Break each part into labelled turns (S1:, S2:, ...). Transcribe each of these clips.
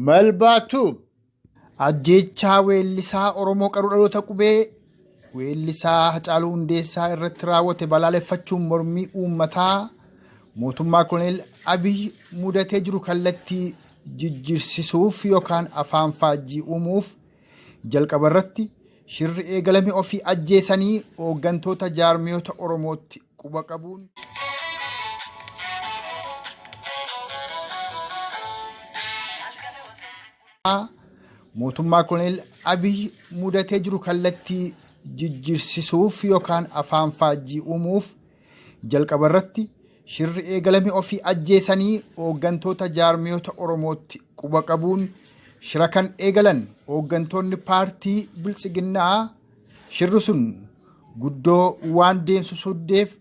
S1: Malbaa Tube ajjeechaa weellisaa Oromoo qaruu dhaloota qubee weellisaa Hacaaluu Hundeessaa irratti raawwate balaaleffachuun mormii uummataa mootummaa koloneel Abiy mudatee jiru kallattii jijjiirsisuuf yookaan afaan faajjii uumuuf Jalqaba irratti shirri eegalame ofii ajjeesanii hooggantoota jaarmiyoota Oromootti quba qabuun. mootummaa koloneel Abiy mudatee jiru kallattii jijjiirsisuuf yookaan afaan faajjii uumuuf Jalqaba irratti shirri eegalame ofii ajjeesanii hooggantoota jaarmiyoota Oromootti quba qabuun shira kan eegalan hooggantoonni paartii biltsiginnaa shirri sun guddoo waan deemsu soddeef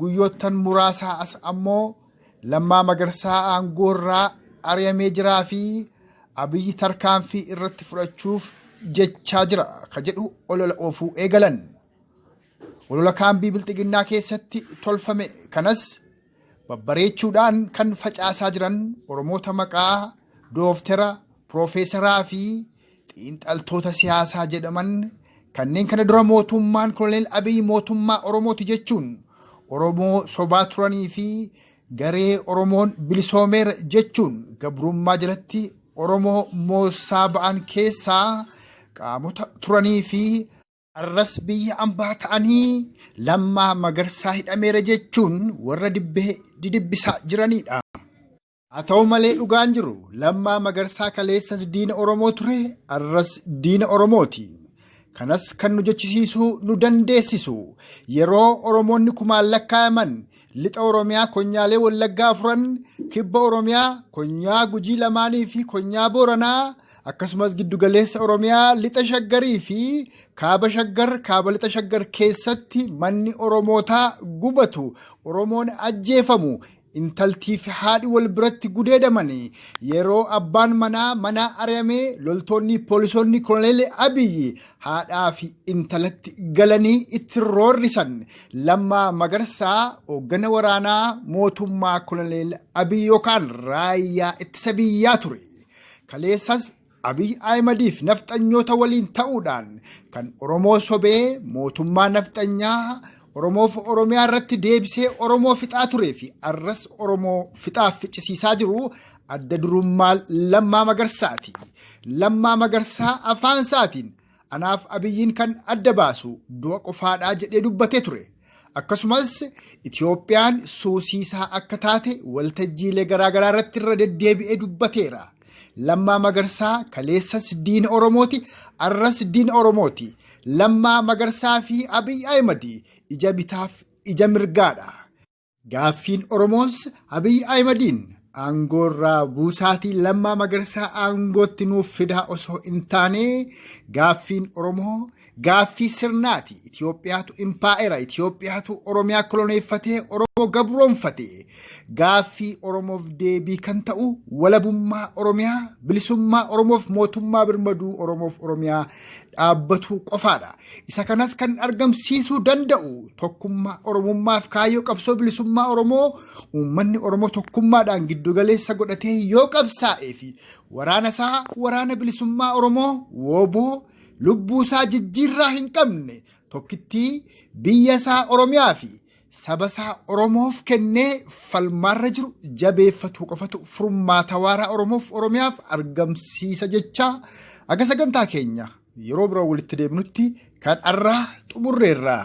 S1: guyyoottan muraasaa as ammoo lammaa magarsaa aangoorraa ari'amee jiraa fi abiyyi tarkaanfii irratti fudhachuuf jechaa jira ka jedhu olola oofuu eegalan. Olola kaambii bilxiginnaa keessatti tolfame kanas babbareechuudhaan kan facaasaa jiran Oromoota maqaa dooftera, piroofeesaraa fi xiinxaltoota siyaasaa jedhaman kanneen kana dura mootummaan koloneel Abiy mootummaa Oromooti jechuun Oromoo sobaa turanii fi garee Oromoon bilisoomeera jechuun gabrummaa jalatti Oromoo moossaa ba'an keessaa qaamota turanii fi Har'as biyya ambaa ta'anii Lammaa Magarsaa hidhameera jechuun warra dibbee didibbisaa jiranidha. Haa ta'u malee dhugaan jiru Lammaa Magarsaa kaleessas diina Oromoo ture har'as diina Oromooti. Kanas kan nu jechisiisuu nu dandeessisu yeroo Oromoonni kumaan lakkaa'aman lixa Oromiyaa konyaalee Wallaggaa afuran kibba Oromiyaa konyaa Gujii lamaanii fi konyaa Booranaa akkasumas giddugaleessa Oromiyaa lixa shaggarii fi kaaba shaggar kaaba lixa shaggar keessatti manni Oromootaa gubatu Oromoon ajjeefamu intaltii fi haadhi wal biratti gudeedamanii yeroo abbaan manaa manaa ari'amee loltoonni poolisoonni koloneelee abiyyi haadhaa fi intalatti galanii itti roorrisan lammaa magarsaa hooggana waraanaa mootummaa koloneel abiyyi yookaan raayyaa ittisa biyyaa ture. Kaleessas Abiy Ahimadiif nafxanyoota waliin ta'uudhaan kan Oromoo sobee mootummaa nafxanyaa Oromoof Oromiyaa irratti deebisee Oromoo fixaa turee fi arras Oromoo fixaaf ficcisiisaa jiru adda durummaa Lammaa Magarsaati. Lammaa Magarsaa afaan isaatiin Anaaf Abiyyiin kan adda baasu du'a qofaadhaa jedhee dubbatee ture. Akkasumas Itoophiyaan suusiisaa akka taate waltajjiilee garaagaraa irratti irra deddeebi'ee dubbateera. Lammaa Magarsaa kaleessas diina Oromooti, arras diina Oromooti. Lammaa Magarsaa fi Abiy Ahimad ija bitaaf ija mirgaadha. Gaaffiin Oromoos Abiy Ahimadiin aangoorraa buusaatii lammaa magarsaa aangootti nuuf fidaa osoo hin taane gaaffiin Oromoo gaaffii sirnaati. Itoophiyaatu impaa'era. Itoophiyaatu Oromiyaa koloneeffatee Oromoo gabroonfate. Gaaffii Oromoof deebii kan ta'u walabummaa Oromiyaa, bilisummaa Oromoof mootummaa birmaduu Oromoof Oromiyaa dhaabbatuu qofaadha. Isa kanas kan argamsiisuu danda'u tokkummaa Oromummaaf kaayyoo qabsoo bilisummaa Oromoo uummanni Oromoo tokkummaadhaan giddugaleessa godhatee yoo qabsaa'ee fi waraana isaa waraana bilisummaa Oromoo wooboo lubbuu isaa jijjiirraa hin qabne tokkittii biyya isaa Oromiyaa fi sabasaa Oromoof kennee falmaarra jiru jabeeffatuu qofatu furmaata waaraa Oromoof Oromiyaaf argamsiisa jechaa akka sagantaa keenya yeroo biroo walitti deebinutti kan arraa xumurreerraa.